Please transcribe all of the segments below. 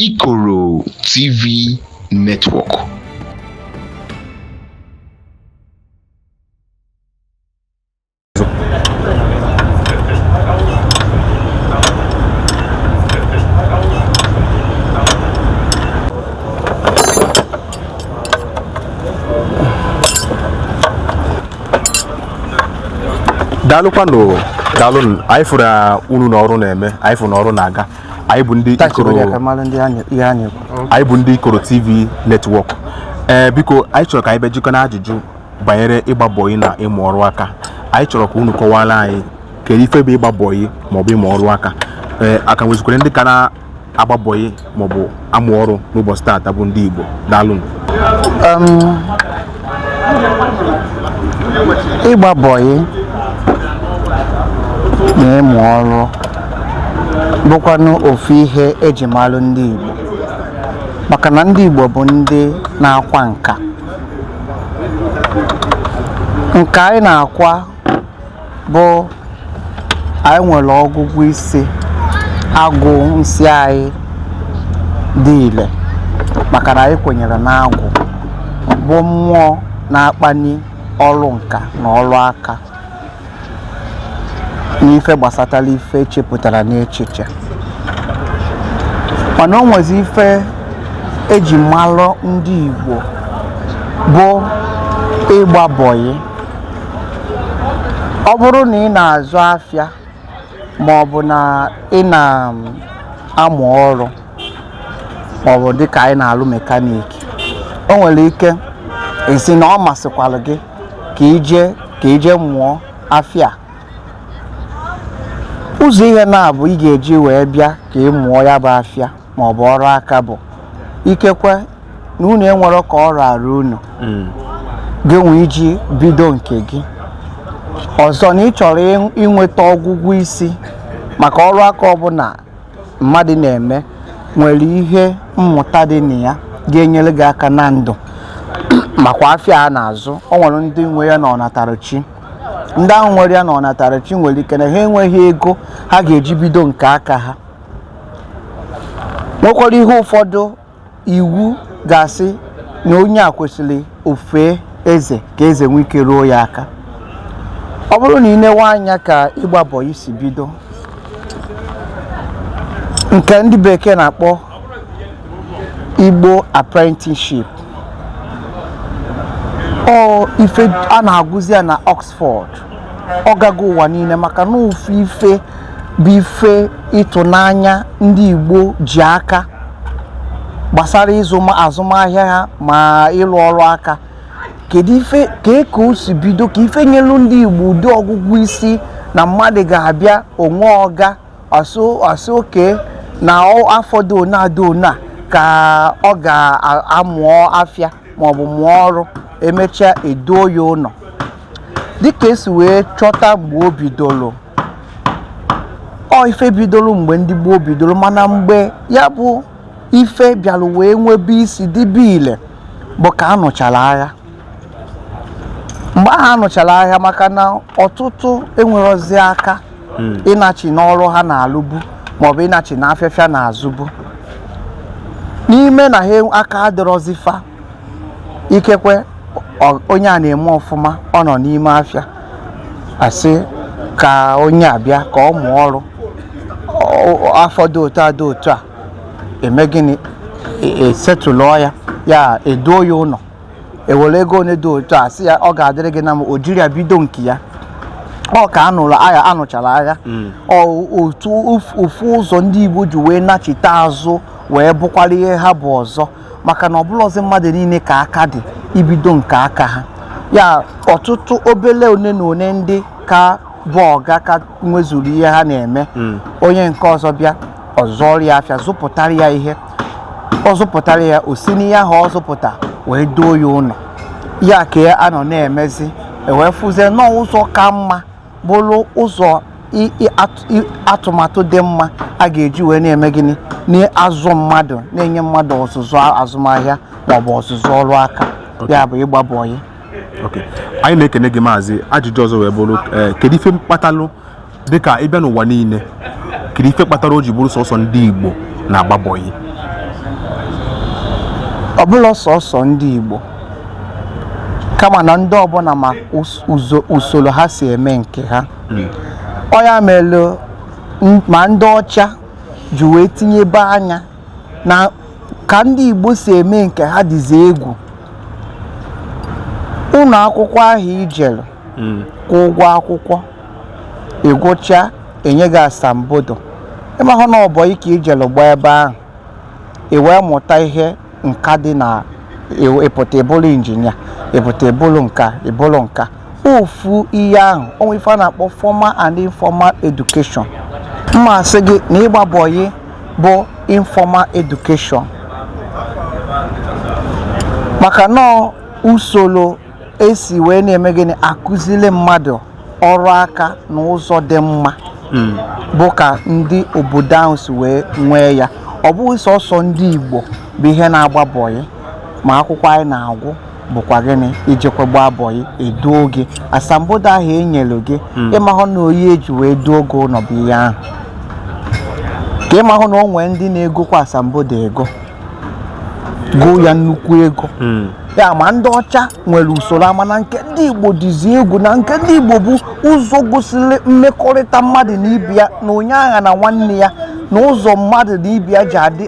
Ikoro TV Network. daalụkwanụ daalụ anyị fụrụ unu na ọrụ na-eme anyị fụrụ na ọrụ na-aga anyị bụ ndị Ikoro TV Network ee eh, biko anyị chọrọ ka anyị bịa jikọ na ajụjụ banyere ịgba bọyị na ịmụ ọrụ aka anyị chọrọ ka unu kọwara anyị kedu ife bụ ịgba bọyị maọbụ ịmụ ọrụ aka ee eh, a ka nwezikwara ndị ka na-agba bọyị maọbụ amụ ọrụ n'ụbọchị taata bụ ndị Igbo daalụ ịgba bọyị na ịmụ ọrụ bụkwanụ ofu ihe eji malụ ndị Igbo maka na ndị Igbo bụ ndị na-akwa nka nka anyị na-akwa bụ anyị nwere ọgụgụ isi agwụ nsị anyị dị ile maka na anyị kwenyere na agwụ bụ mmụọ na-akpali ọrụ nka na ọrụ aka n'ife gbasatara ife e chepụtara n'echiche mana o nwezi ife eji malụ ndị Igbo bụ ịgba bọyị ọ bụrụ na ị na-azụ afịa ma ọ bụ na ị na-amụ ọrụ ma ọ bụ dịka anyị na-alụ mekaniki o nwere ike ị sị na ọ masịkwara gị ka i je mụọ afịa ụzọ ihe naabọ ị ga-eji wee bịa ka ị mụọ ya bụ afịa ma ọ bụ ọrụ aka bụ ikekwe na unu enwerọ ka ọ rara unu mm. gị nwee iji bido nke gị ọzọ na ị chọrọ inweta ọgụgụ isi maka ọrụ aka ọbụla mmadụ na-eme nwere ihe mmụta dị na ya ga-enyere gị aka na ndụ makwa afịa a na-azụ o nwere ndị nwe ya na ọnatarachi ndị ahụ nwere ya na ọnatarachi nwere ike na ha enweghị ego ha ga-eji bido nke aka ha nwekwara ihe ụfọdụ Igbo ga-asị na onye a kwesịrị o fee eze ka eze nwee ike ruo ya aka ọ bụrụ na ị newe anya ka ịgba bọyị si bido nke ndị bekee na-akpọ Igbo apprenticeship ọ ife a na-agụzi ya na Oxford ọ gago ụwa niile maka na ofu ife bụ ife ịtụnanya ndị Igbo ji aka gbasara ịzụ azụmahịa ha ma ịlụ ọrụ aka kedu ife ka e ka o si bido ka ife nyelu ndị Igbo ụdị ọgụgụ isi na mmadụ ga-abịa o nwee ọga a sị okay na afọ dị one a dị one a ka ọ gaa mụọ afịa maọbụ mụọ ọrụ e mechaa e duo ya ụnọ dịka e si wee chọta mgbe o bidoro ọ ife bidoro mgbe ndị Igbo bidoro mana mgbe ya bụ ife bịara wee nwebe isi dịbe ile bụ ka a nụchara agha mgbe ahụ a nụchara agha maka na ọtụtụ enwerọzi aka hmm. ịnachi n'ọrụ ha na-alụbu maọbụ ịnachi na afịa fa na-azụbu n'ime na ha aka adịrọzi fa ikekwe onye a na-eme ọfụma ọ nọ n'ime afịa a sị ka onye a bịa ka ọ mụọ ọrụ afọ dị otu a dị otu a e mee gịnị e setụlụọ e, e ya ya e duo ya ụnọ e were ego one dị otu a sị ya ọ ga-adịrị gị na mma o jiri ya bido nke ya ọ ka a nụchara agha hmm. otu ofu ụzọ ndị Igbo ji wee nachite azụ wee bụkwara ihe ha bụ ọzọ maka na ọ bụrọzi mmadụ niile ka aka dị ibido nke aka ha ya ọtụtụ obele one na one ndị ka bụ ọga ka nwezuru ihe ha na-eme hmm. onye nke ọzọ bịa ọ zụọrọ ya afịa zụpụtara ya ihe ọ zụpụtara ya o si n'ihe ahụ ọ zụpụta wee duo ya ụnọ ya ka a nọ na-emezi e wee fụzie na ọ bụ ụzọ ka mma bụrụ ụzọ atụmatụ dị mma a ga-eji wee na-eme gịnị na-azụ mmadụ na-enye mmadụ ọzụzụ azụmahịa maọbụ ọzụzụ ọrụ aka ya bụ ịgba bọyị anyị na-ekene gị maazị ajụjụ ọzọ wee bụrụ eh, kedu ife kpatalụ dịka ị bịa n'ụwa niile kedu ife kpatara o ji bụrụ sọsọ ndị Igbo na-agba bọyị ọ bụrọ sọsọ ndị Igbo kama na ndị ọbụna ma usoro ha si eme nke ha hmm. ọ ya mere ma ndị ọcha ji wee tinyebe anya na ka ndị Igbo si eme nke ha dịzi egwu ụnọ akwụkwọ ahụ i jelu hmm. kwụọ ụgwọ akwụkwọ ị gụcha e nye gị asambodo ị mahụ na ọ bọyị ka i jelu gbaa ebe ahụ i wee mụta ihe nka dị na ị pụta ị bụrụ injinia ị pụta ị bụrụ nke a ị bụrụ nke a ofu ihe ahụ o nwe ife a na-akpọ formal and informal education mma asị gị na ịgba bọyị bụ informal education maka na ọ usoro esi wee na-eme gịnị akụzili mmadụ ọrụ aka na ụzọ dị mma hmm. bụ ka ndị obodo ahụ si wee nwee ya ọ bụghị sọsọ ndị Igbo bụ ihe na-agba bọyị ma akwụkwọ anyị na-agwụ bụkwa gịnị ijekwa gbaa bọyị eduo gị asambodo ahụ e nyelu gị hmm. ịmahụ na ọ ya eji wee duo gị ụnọ bụ ihe ahụ ka ịmahụ na o nwee ndị na-egokwa asambodo ego goo ya nnukwu ego hmm. ya ma ndị ọcha nwere usoro ama na nke ndị igbo dịzi egwu na nke ndị igbo bụ ụzọ gosiri mmekọrịta mmadụ na ibe ya na onye aghana nwanne ya na ụzọ mmadụ na ibe ya ji adị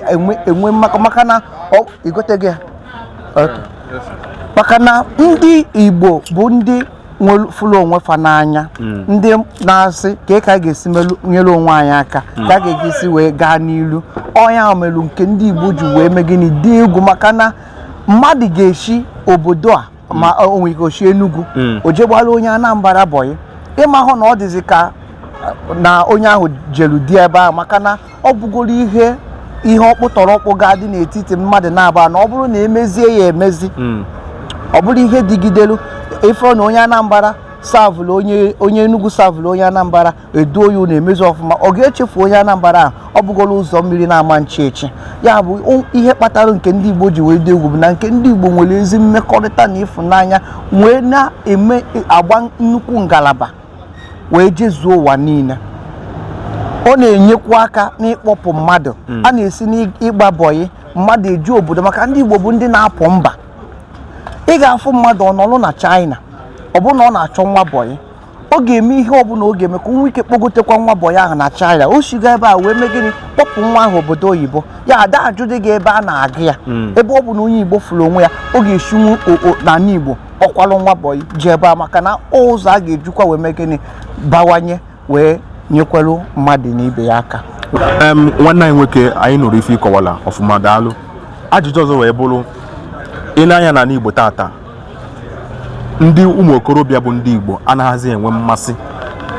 enwe maka na ịghọtago maka na ndị igbo bụ ndị fụlụ onwe fa n'anya hmm. ndị na-asị ka ka a ga-esi nyere onwe anyị aka hmm. ka a ga-esi wee gaa n'ilu ọ nya melu nke ndị Igbo ji wee mee gịnị dị egwu maka na mmadụ ga-eshi obodo a hmm. ma o nwere ike o shi Enugu o je gbara onye Anambra bọyị ịmahụ na ọ dịzi ka na onye ahụ jelu di ebe ahụ maka na ọ bụgoro ihe ihe ọkpụtọrọ ọkpụ ga-adị n'etiti mmadụ naabọ na ọ bụrụ na emezie ya emezi hmm. ọ bụrụ ihe dịgidelu ịfụ na onye Anambra savụlụ onye onye Enugu savụlụ onye Anambra eduo ya na emezi ọfụma ọ ga-echefu onye Anambra ahụ ọ bụgoro ụzọ mmiri na-ama nchi echi ya bụ ihe kpatara nke ndị Igbo ji wee dị egwu bụ na nke ndị Igbo nwere ezi mmekọrịta na ịfụnanya wee na-eme agba nnukwu ngalaba wee jezuo ụwa niile ọ na-enyekwa aka n'ịkpọpụ mmadụ hmm. a na-esi n'ịgba bọyị mmadụ eje obodo maka ndị Igbo bụ ndị na-apụ mba ị ga-afụ mmadụ ọ nọlụ na China ọ bụrụ na ọ na-achọ nwa bọyị ọ ga-eme ihe ọbụla ọ ga-eme ka o nwee ike kpọgotekwa nwa bọyị ahụ na China o shiga ebe a wee mee gịnị kpọpụ nwa ahụ obodo oyibo ya ada ajụdị gị ebe a na-agụ ya hmm. ebe ọ bụ na onye Igbo fụrụ onwe ya ọ ga-esinwu n'ala Igbo kpọkwalụ nwa bọyị jee ebe a maka na ụzọ a ga-ejikwa wee mee gịnị bawanye wee nyekwelu mmadụ na ibe ya aka em nwanne anyị nwoke anyị nụrụ ife ị kọwala ọfụma daalụ ajụjụ ọzọ wee bụrụ i nee anya n'anị igbo tata ndị ụmụ okorobịa bụ ndị igbo anaghịzi enwe mmasị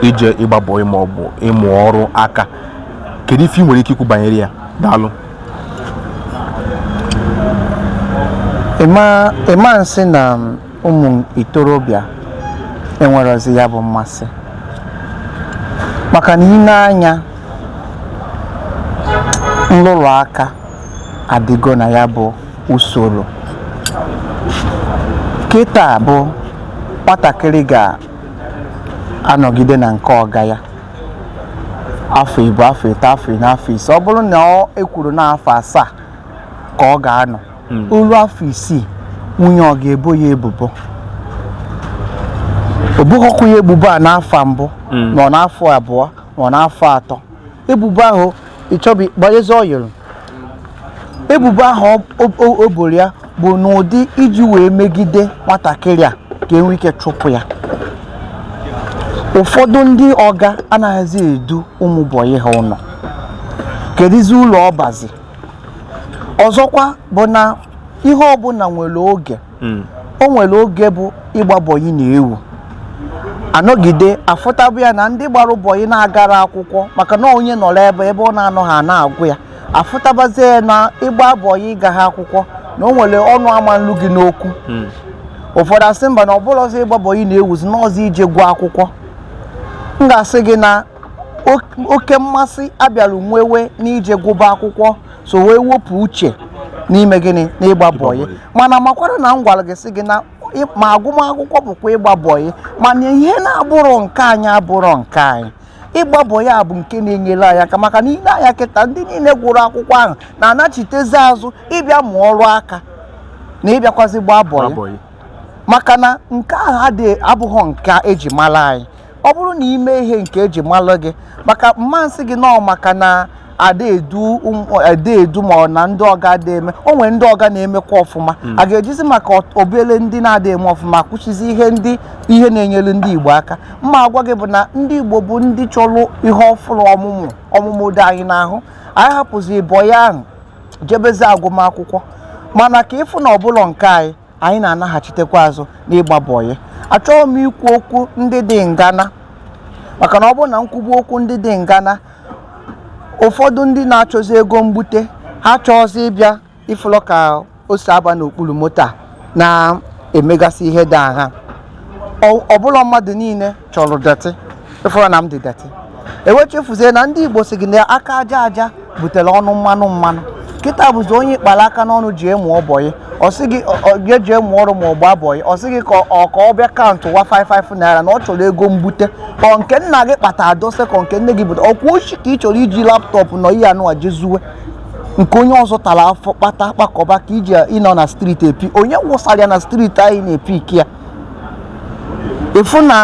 ije ịgba bọyị ma ọ bụ ịmụ ọrụ aka kedu ife ị nwere ike ikwu banyere ya daalụ ị ma nsị na ụmụ ntorobịa enwerọzi ya bụ mmasị maka na i nee anya nlụrụ aka adịgo na ya bụ usoro kịta bụ nwatakịrị ga-anọgide na nke ọga ya afọ ịbụọ afọ ịtọ afọ ịnọ afọ ise ọ bụrụ na ọ ekwuru na afọ asaa ka ọ ga-anọ o lu afọ isii nwunye ọga ebo ya ebubo o boghọkwa ya ebubo a n'afọ mbụ ma ọ n'afọ abụọ ma ọ n'afọ atọ ebubo ahụ ịchọbi gbanyezi ọyịrị ebubo ahụ o boro ya bụ n'ụdị iji wee megide nwatakịrị a ka e nwee ike chụpụ ya ụfọdụ ndị ọga anaghịzi edu ụmụ bọyị ha ụlọ keduzi ulu ọ bazi ọzọkwa bụ na ihe ọbụla nwere oge hmm. o nwere oge bụ ịgba bọyị na-ewu anọgide afụtabụ ya na ndị gbara bọyị na-agarọ akwụkwọ maka na onye nọrọ ebe ebe ọ na-anọhọ a na-agụ ya afụtabazie ya na ịgba bọyị ị gahọ akwụkwọ na o nwere ọnụ ama nlu gị n'okwu hmm. ụfọdụ asị mba na ọ bụlọzi ịgba bọyị na-ewuzi n'ọọzi ije gụọ akwụkwọ m ga-asị gị na oke mmasị a bịara nwewe n'ije gụba akwụkwọ so wee wepụ uche n'ime gịnị n'ịgba bọyị mana makwara na m gwara gị sị gị na ma agụmakwụkwọ bụkwa ịgba bọyị mana ihe na-abụrọ nke anyị abụrọ nke anyị ịgba bọyị a bụ nke na-enyere anyị aka maka na i lee anya kịta ndị niile gụrụ akwụkwọ ahụ na-anachitezi azụ ịbịa mụọ ọrụ aka na ịbịakwazi gbaa bọyị maka na nke ahụ abụghị nke eji mara anyị ọ bụrụ na i mee ihe nke eji malụ gị maka m ma-asị gị nọọ maka na ada edu ma ọ na ndị ọga ada eme o nwere ndị ọga na-emekwa ọfụma hmm. a ga-ejizi maka obele ndị na-ada eme ọfụma kwụsịzi ihe ndị ihe na-enyere ndị Igbo aka m ma-agwa gị bụ na ndị Igbo bụ ndị chọrọ ihe ọfụrụ ọmụmụ ọmụmụ dị anyị n'ahụ anyị hapụzi bọyị ahụ jebezi agụmakwụkwọ mana ka ị fụ na ọ bụlọ nke anyị anyị na-anaghachitekwa azụ n'ịgba bọyị achọghị m ikwu okwu ndị dị ngana maka na ọ bụrụ na m kwube okwu ndị dị ngana ụfọdụ ndị na-achọzi ego mbute ha achọọzi ịbịa ị fụlụ ka o si aba n'okpuru moto a na-emegasị ihe ndị ahụ ọ bụlọ mmadụ niile chọrọ dọtị ị fụrụ na m dị dọtị e wee chefuzie na ndị igbo sị gị na aka aja aja butere ọnụ mmanụ mmanụ kịta bụzi onye ị kpara aka n'ọnụ jee mụọ bọyị ọ sị gị ọ- ọ- ya jee mụọ ọrụ ma ọ gbaa bọyị ọ sị gị ka ọ ka ọ bịa kaụntụ wa 55 naira na ọ chọrọ ego mbute ọ nke nna gị kpata adose ka nke nne gị bute ọkwa oshi ka ị chọrọ iji laptọpụ nọ ebe anụ je zuwe nke onye ọzọ tara afụfụ kpata kpakọba ka iji ịnọ na streeti epi onye wụsara ya na streeti anyị na-epi ike ya ịfụ na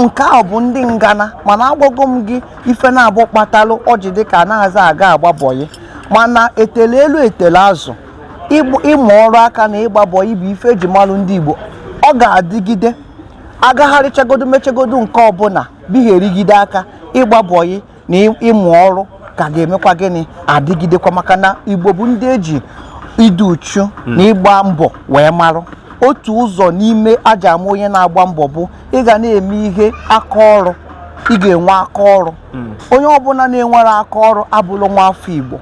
nke a bụ ndị ngana mana agwago m gị ife na-abụ kpatalụ o ji dịka anaghịzi aga agba bọyị mana etele elu etele azụ ịmụ ọrụ aka na ịgba bọyị bụ ife eji malụ ndị Igbo ọ ga-adịgide agagharịchagodo mechagodo nke ọbụla bigherigide aka ịgba bọyị na ịmụ ọrụ ka ga-emekwa gịnị adịgidekwa maka na igbo bụ ndị eji ịdị uchu hmm. na ịgba mbọ wee marụ otu ụzọ n'ime a ja-ama onye na-agba mbọ bụ ị ga na-eme ihe aka ọrụ ị ga-enwe aka ọrụ hmm. onye ọbụla na-enwerọ aka ọrụ abụrọ nwa afọ igbo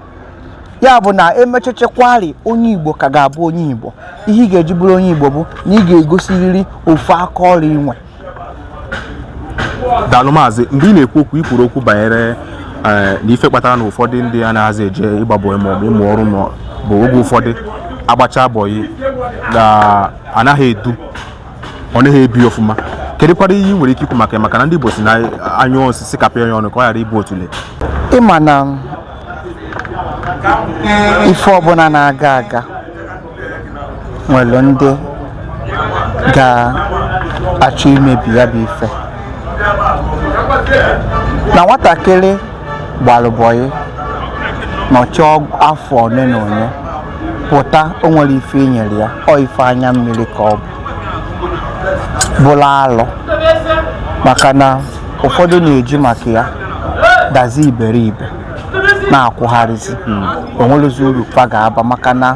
ya bụ na emechechekwari onye igbo ka ga-abụ onye igbo ihe ị ga-eji bụrụ onye igbo bụ na ị ga-egosiriri ofu aka ọrụ i nwe daalụ maazị mgbe ị na-ekwu okwu ikwuru okwu banyere eh, na ife kpatara na ụfọdụ ndị anaghịzi eje ịgba bọyị ma ọ bụ ịmụ ọrụ bụ oge ụfọdụ agbacha bọyị na anaghị edu ọ naghị ebi ọfụma kedụkwara ihe ị nwere ike ikwu maka ya maka na ndị Igbo sị na a nyụọ nsị kapịa ya ọnụ ka ọ ghara ịbụ otolo ịma na ife ọbụla na-aga aga nwere ndị ga-achọ imebi ya bụ ife na nwatakịrị gbalụ bọyị nọchi afọ ole na ole pụta o nwerọ ife e nyere ya ọ ife anya mmiri ka ọ bụ bụrụ alụ maka na ụfọdụ na-eji maka ya dazi iberibe na-akwụgharịzi hmm. o nwerọzi uru fa ga-aba maka na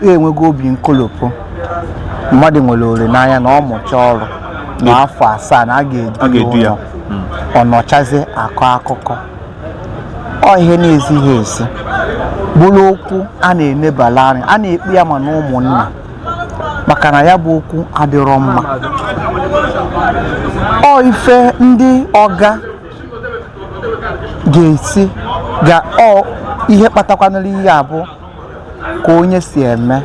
enwego obi nkolopụ mmadụ nwere olileanya na ọ mụcha ọrụ na afọ asaa na a ga-edu ya hmm. ọ nọchazi a kọọ akụkọ ọ ihe na-ezighị ezi bụrụ okwu a na-enebala anya a na-ekpe ya ma na ụmụnna maka na ya bụ okwu adịrọ mma ọ ife ndị ọga ga-esi ga ọ ihe kpatakwanụrụ ihe a bụ ka onye si eme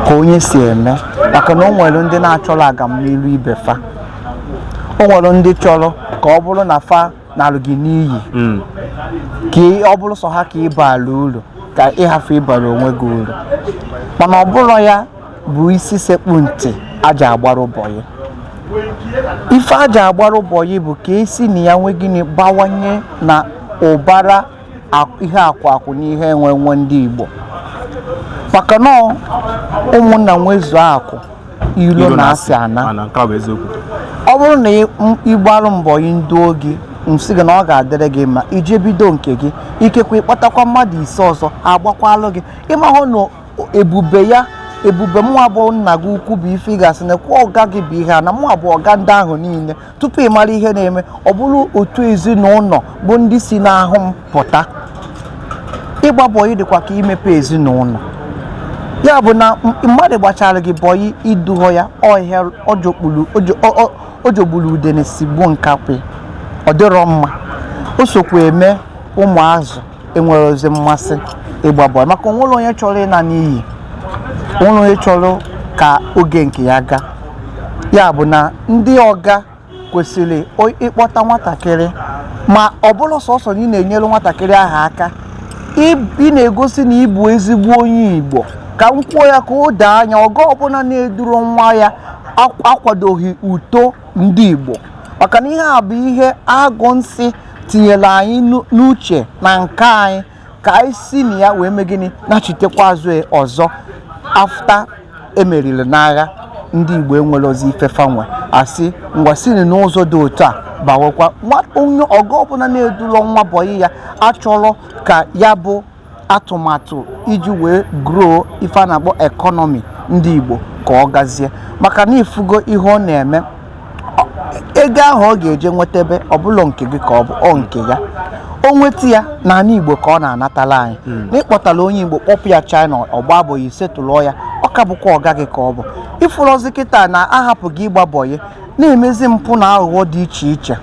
ka onye si eme maka na o nwere ndị na-achọrọ agamnilu ibe fa o nwere ndị chọrọ ka ọ bụrụ na fa nalụ gị n'iyi hmm. ka ọ bụrụ sọ ha ka ị baara uru ka ị hafụ ịbara onwe gị uru mana ọ bụrọ ya bụ isi sekpu ntị a ja-agbara bọyị ife a ja-agbara bọyị bụ ka esi na ya nwe gịnị bawanye na ụbara ihe akụ akụ na ihe enwe enwe ndị Igbo maka na ụmụnna nwezuo akụ ilo na asị anaa ọ bụrụ na ị gbalụ m bọyị m duo gị m sị gị na ọ ga-adịrị gị mma i jee bido nke gị ikekwe ịkpọtakwa mmadụ ise ọzọ agbakwalụ gị ịmahụ na ebube ya ebube mụwa bụ nna gị ukwu bụ ife ị ga-asị na kwa ọga gị bụ ihe a na mụwa bụ ọga ndị ahụ niile tupu ị mara ihe na-eme ọ bụrụ otu ezinụlọ bụ ndị si n'ahụ m pụta ịgba bọyị dịkwa ka imepe ezinụlọ ya bụ na mmadụ gbachara gị bọyị i dughọ ya ọ ihe ọ jọgburu udene sigbuo nkakwụ ọ dịrọ mma o sokwa eme ụmụazụ enwerọzi mmasị ịgba bọyị maka o nwerọ onye chọrọ ịna n'iyi o nwerọ onye chọrọ ka oge nke ya gaa ya bụ na ndị ọga kwesịrị o- ịkpọta nwatakịrị ma ọ bụrọ sọsọ na ị na-enyere nwatakịrị ahụ aka ị- ị na-egosi na ị bụ ezigbo onye igbo ka m kwuo ya ka o doo anya ọga ọbụla na-edurọ nwa ya akw- akwadoghị uto ndị Igbo maka na ihe a bụ ihe Agwụ Nsị tinyere anyị n'uche na nke anyị ka anyị si na ya wee mee gịnị nachitekwa azụ e ọzọ after e meriri n'agha ndị Igbo enwerọzi ife fa nwe a sị ngwa sini n'ụzọ dị otu a bawakwa onye ọga ọbụla na-edulọ nwa bọyị ya achọrọ ka ya bụ atụmatụ iji wee grow ife a na-akpọ economy ndị Igbo ka ọ gazie maka na ị fụgo ihe ọ na-eme ego ahụ ọ ga-eje nweta ebe ọbụla nke gị ka ọ bụ ọ nke ya o nweta ya n'anị Igbo ka ọ na-anatala anyị hmm. na ị kpọtala onye Igbo kpọpụ ya China ọ gbaa bọyị i setụlụọ ya ọ ka bụkwa ọga gị ka ọ bụ ị fụrọzi kịta na a hapụgo ịgba bọyị na-emezi mpụ na aghụghọ dị iche iche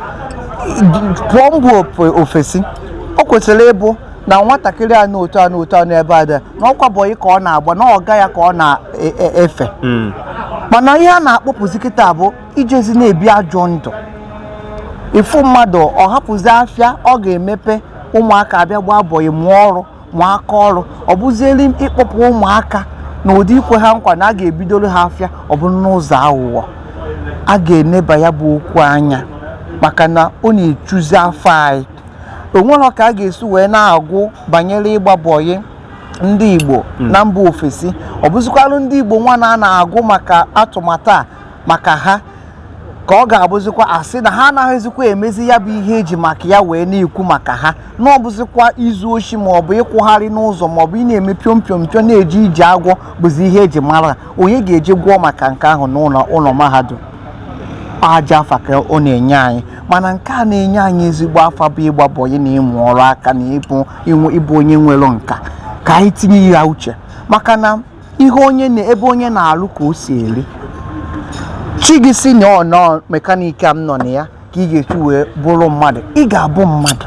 pụọ mba ofesi o kwesịrị ịbụ na nwatakịrị a na otu a na otu a n'ebe a dị na ọkwa bọyị ka ọ na-agba na ọga ya ka ọ na-efe e, e, hmm. mana ihe a na-akpọpụzi kịta bụ ijezi na-ebi ajọ ndụ ị fụ mmadụ ọ hapụzi afịa ọ ga-emepe ụmụaka abịa gbaa bọyị mụọ ọrụ mụọ aka ọrụ ọ bụzieri ịkpọpụ ụmụaka na ụdị ikwe ha nkwa na a ga-ebidoro ha afịa ọ bụrụ n'ụzọ aghụghọ a ga-eneba ya bụ okwu anya maka na ọ na-echuzi afa anyị o nwerọ ka a ga-esi wee na-agụ banyere ịgba bọyị ndị Igbo hmm. na mba ofesi ọ bụzikwalụ ndị Igbo nwa na-agụ maka atụmatụ a maka ha ka ọ ga-abụzikwa a sị na ha anaghịzikwa emezi ya bụ ihe eji maka ya wee na-ekwu maka ha na ọ bụzikwa izu oshi ma ọ bụ ịkwụgharị n'ụzọ ma ọ bụ ị na-eme piom piom piom na-eje ije agwọ bụzi ihe eji mara onye ga-eje gụọ maka nke ahụ n'ụlọ ụlọ mahadum ajọ afa ka ọ na-enye anyị mana nke a na-enye anyị ezigbo afa bụ ịgba bọyị na ịmụ ọrụ aka na ịbụ ịbụ onye nwere nka ka anyị tinye ya uche maka na ihe onye na ebe onye na-alụ ka o si eri chi gị sị na ọ na mekaniki a m nọ na ya ka ị ga-esi wee bụrụ mmadụ ị ga-abụ mmadụ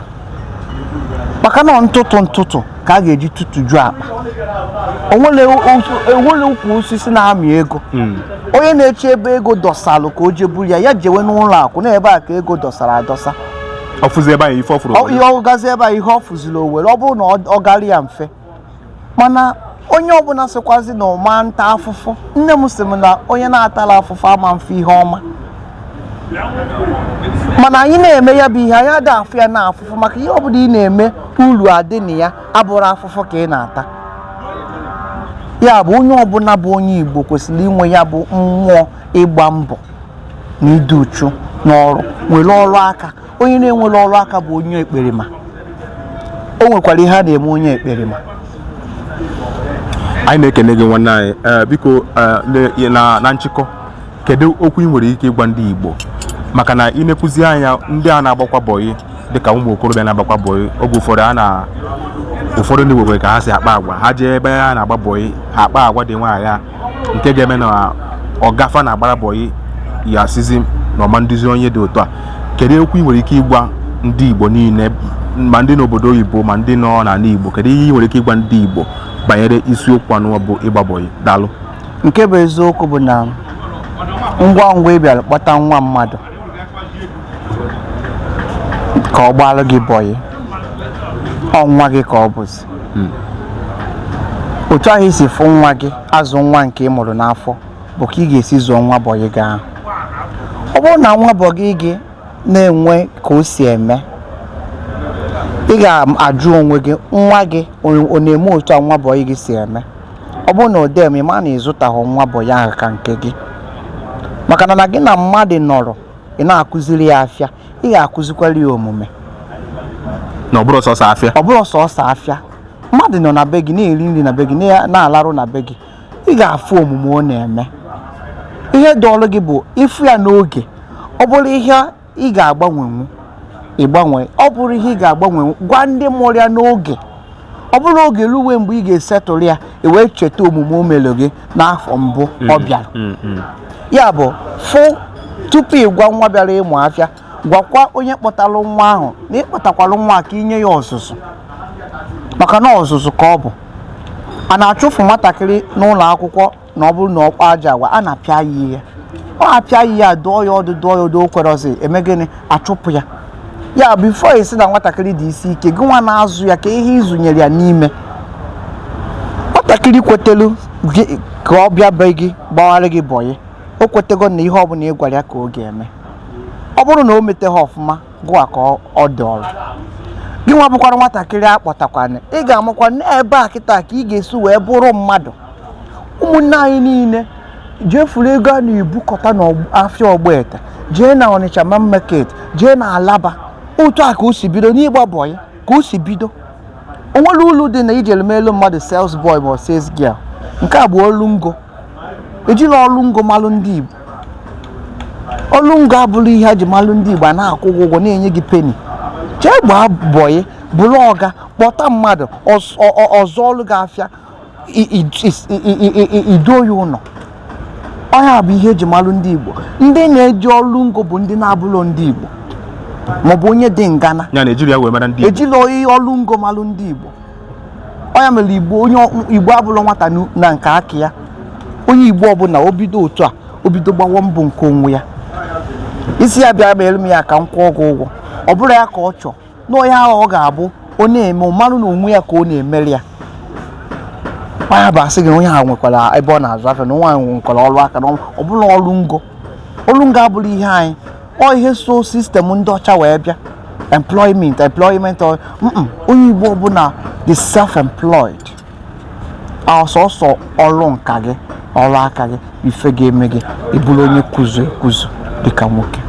maka na ntụtụ ntụtụ ka a ga-eji tụtụju akpa o nwere ukwu osisi na-amị ego hmm. onye na-eche ebe ego dọsalụ ka o je buru ya ya jewe n'ụlọ akụ na ebe a ka ego dọsara adọsa ọ gazi ebe a ihe ọ fụziri o were ọ bụrụ na ọ gara ya mfe mana onye ọbụla sịkwazi na ọ ma nta afụfụ nne m sị m na onye na-atala afụfụ ama mfụ ihe ọma mana anyị na-eme ya bụ ihe anyị ada afụ ya na afụfụ maka ihe ọbụla ị na-eme uru adị na ya abụrọ afụfụ ka ị na-ata ya bụ onye ọbụla bụ onye Igbo kwesịrị inwe ya bụ mmụọ ịgba mbọ na ịdị uchu n'ọrụ nwere ọrụ aka onye na-enwerọ ọrụ aka bụ onye ekperima o nwekwara ihe a na-eme onye ekperima anyị na-ekene gị nwanne anyị eh, biko eh, na nchịkọ kedu okwu ị nwere ike ịgwa ndị Igbo maka na i nekwuzi anya ndị a na-agbakwa bọyị dịka ụmụ okorobịa na-agbakwa bọyị oge ụfọdụ a na ụfọdụ ndị nwere ka ha si akpa agwa ha jee ebe ha na-agba bọyị ha akpa agwa dị nwaanyị nke ga-eme na ọga fa na-agbara bọyị ya sịzi na ọ ma nduzi onye dị otu a kedu okwu ị nwere ike ịgwa ndị Igbo niile ma ndị n'obodo oyibo ma ndị nọ n'ala Igbo kedu ihe ị nwere ike ịgwa ndị Igbo banyere isiokwu anụ bụ ịgba bọyị daalụ nke bụ eziokwu bụ na ngwa ngwa ị bịara kpọta nwa mmadụ ka ọ gbalụ gị bọyị ọ nwa gị ka ọ bụzi hmm. otu ahụ i si fụ nwa gị azụ nwa nke ị mụrụ n'afọ bụ ka ị ga-esi zụọ nwa bọyị gị ahụ ọ bụrụ na nwa bọyị gị na-enwe ka o si eme ị ga-ajụ onwe gị nwa gị ọ na-eme otu a nwa bọyị gị si eme ọ bụrụ na ọ da eme ị ma na ị zụtahụ nwa bọyị ahụ ka nke gị maka na na gị na mmadụ nọrọ ị na-akụziri ya afịa ị ga-akụzikwara ya omume na ọ bụrọ sọsọ afịa ọ bụrọ sọsọ afịa mmadụ nọ na be gị na-eri nri na be gị na-alarụ na be gị ị ga-afụ omume ọ na-eme ihe dụụrụ gị bụ ịfụ ya n'oge ọ bụrụ ihe ị ga-agbanwenwu ị gbanwe ọ bụrụ ihe ị ga-agbanwenwu gwa ndị mụrụ ya n'oge ọ bụrọ oge ruwe mgbe ị ga-esettle ya i wee cheta omume o mere gị n'afọ mbụ ọ mm, bịara mm, mm. ya bụ fụ tupu ị gwa nwa bịara ịmụ afịa gwakwa onye kpọtalụ nwa ahụ na ị kpọtakwalụ nwa a ka i nye ya ọzụzụ maka na ọzụzụ ka ọ bụ a na-achụfụ nwatakịrị n'ụlọ akwụkwọ na ọ bụrụ na ọ kpa ajọ agwa a na-apịa ya ihe ọ apịa ya dụọ ya ọdụ dụọ ya ọdụ o kwerọzi eme gịnị a chụpụ ya ya bụ before ị sị na nwatakịrị dị isi ike gị nwa na-azụ ya kee ihe ị zụnyere ya n'ime nwatakịrị kwetelu ka ọ bịa be gị gbawara gị bọyị o kwetego na ihe ọbụla ị gwara ya ka ọ ga-eme ọ bụrụ na o meteghị ọfụma gụwa ka ọ dị ọrụ gị nwa bụkwara nwatakịrị a kpọtakwanụ ị ga-amakwa na ebe a kịta ka ị ga-esi wee bụrụ mmadụ ụmụnne anyị niile jee furu ego a na-ebukọta n'afịa ọgbete jee na ọnịcha main market jee na alaba otu a ka o si bido n'ịgba bọyị ka o si bido o nwerọ ulu dị na ije melu mmadụ sales boy ma sales girl nke a bụ ọlụ ngo ejilọ ọlụ ngo malụ ndị Igbo ọlụ ngo abụlọ ihe a ji malụ ndị Igbo a na-akwụ gị ụgwọ na-enye gị peni jee gbaa bọyị bụrụ ọga kpọta mmadụ ọ zụọlụ gị afịa i doo ya ụnọ ọ nya bụ ihe eji malụ ndị Igbo ndị na-eje ọlụ ngo bụ ndị na-abụlọ ndị Igbo maọbụ onye dị ngana ejilọ oyi ọlụ ngo malụ ndị Igbo ọ nya mere Igbo onye Igbo abụlọ nwata na nke aka ya onye Igbo ọbụla o bido otu a o bido gbawa mbọ nke onwe ya ị sị ya bịa mere m ya ka m kwụọ gị ụgwọ ọ bụrọ ya ka ọ chọ na onye ahụ ọ ga-abụ ọ na-eme ọ marụ na onwe ya ka ọ na-emere ya ya bụ a sị gị onye ahụ nwekwara ebe ọ na-azụ afịa na nwa ahụ nwekwara ọrụ aka na ọ bụlọ ọrụ ngo ọrụ ngo abụrọ ihe anyị ọ ihe so sistem ndị ọcha wee bịa employment employment onye igbo ọbụla dị self-employed ọ sọsọ ọrụ nka gị ọrụ aka gị ife ga-eme gị ị bụrụ onye kuzu ekuzu dịka nwoke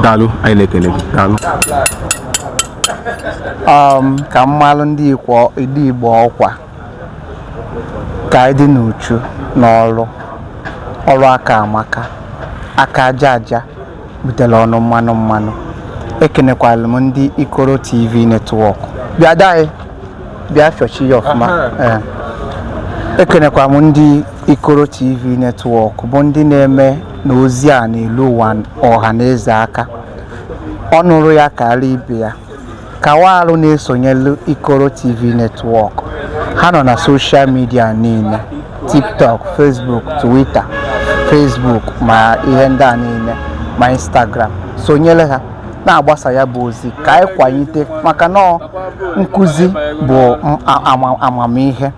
daalụ anyị na-ekele gị daalụ um, ka m malụ ndị Igbo ọkwa ka anyị dị n'uchu n'ọrụ ọrụ aka amaka aka aja aja butere ọnụ mmanụ mmanụ ekenekwala m ndị ikoro tv netwọk bịa daị bịa fịọchi ya ọfụma ee ekenekwa m ndị ikoro tv netwọk bụ ndị na-eme na ozi a na-elu ụwa ọha na eze ka ọ nụrụ ya kaara ibe ya Kawalu na-esonyelu Ikoro TV Network. Ha nọ na soshal midia niile, TikTok, Facebook, Twitter, Facebook ma ihe ndị a niile ma Instagram. Sonyere ha na-agbasa ya bụ ozi ka anyị kwalite maka na ọ nkụzi bụ amamihe.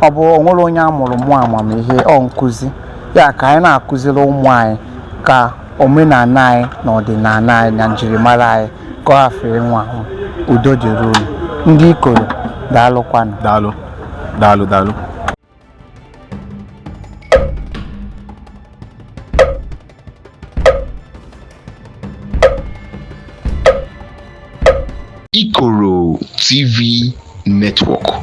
ọ bụ o nwerọ onye a mụrụ mụọ amamihe ọ nkụzi ya ka anyị na-akụziri ụmụ anyị ka omenana anyị na ọdịnana anyị na njirimara anyị ka ọ hafụ ịnwụ anwụ udo dịrị unu ndị ikoro daalụkwanụ daalụ daalụ daalụ Ikoro TV Network.